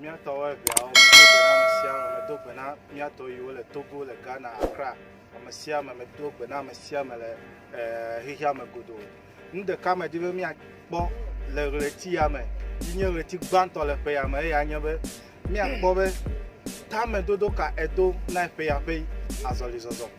Míatɔwo eveawo medo gbe na ame sia ame, medo gbe na míatɔ yiwo le Togo, le Ghana, Accra, ame sia ame, medo gbe na ame sia ame le eh, xexea me godoo. Nu ɖeka medi be míakpɔ le ɣleti ya me, yi nye ɣleti gbãtɔ le ƒe ya me, eya nye be míakpɔ be tamedodo ka edo na eƒe ya ƒe azɔlizɔzɔ.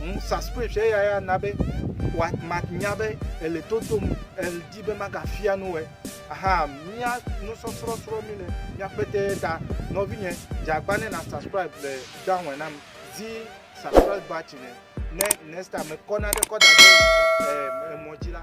Ŋu subscription eya ya na be wa manya be ele to dom edi be magafia nu wɔ. Aha mia nusɔsrɔ̃ srɔ̃ mi le miaƒete ta nɔvinye dzagba ne na subscribe le down nam zi subscribe button ne next time mekɔ na ɖe kɔ da ɖe emɔ dzi la.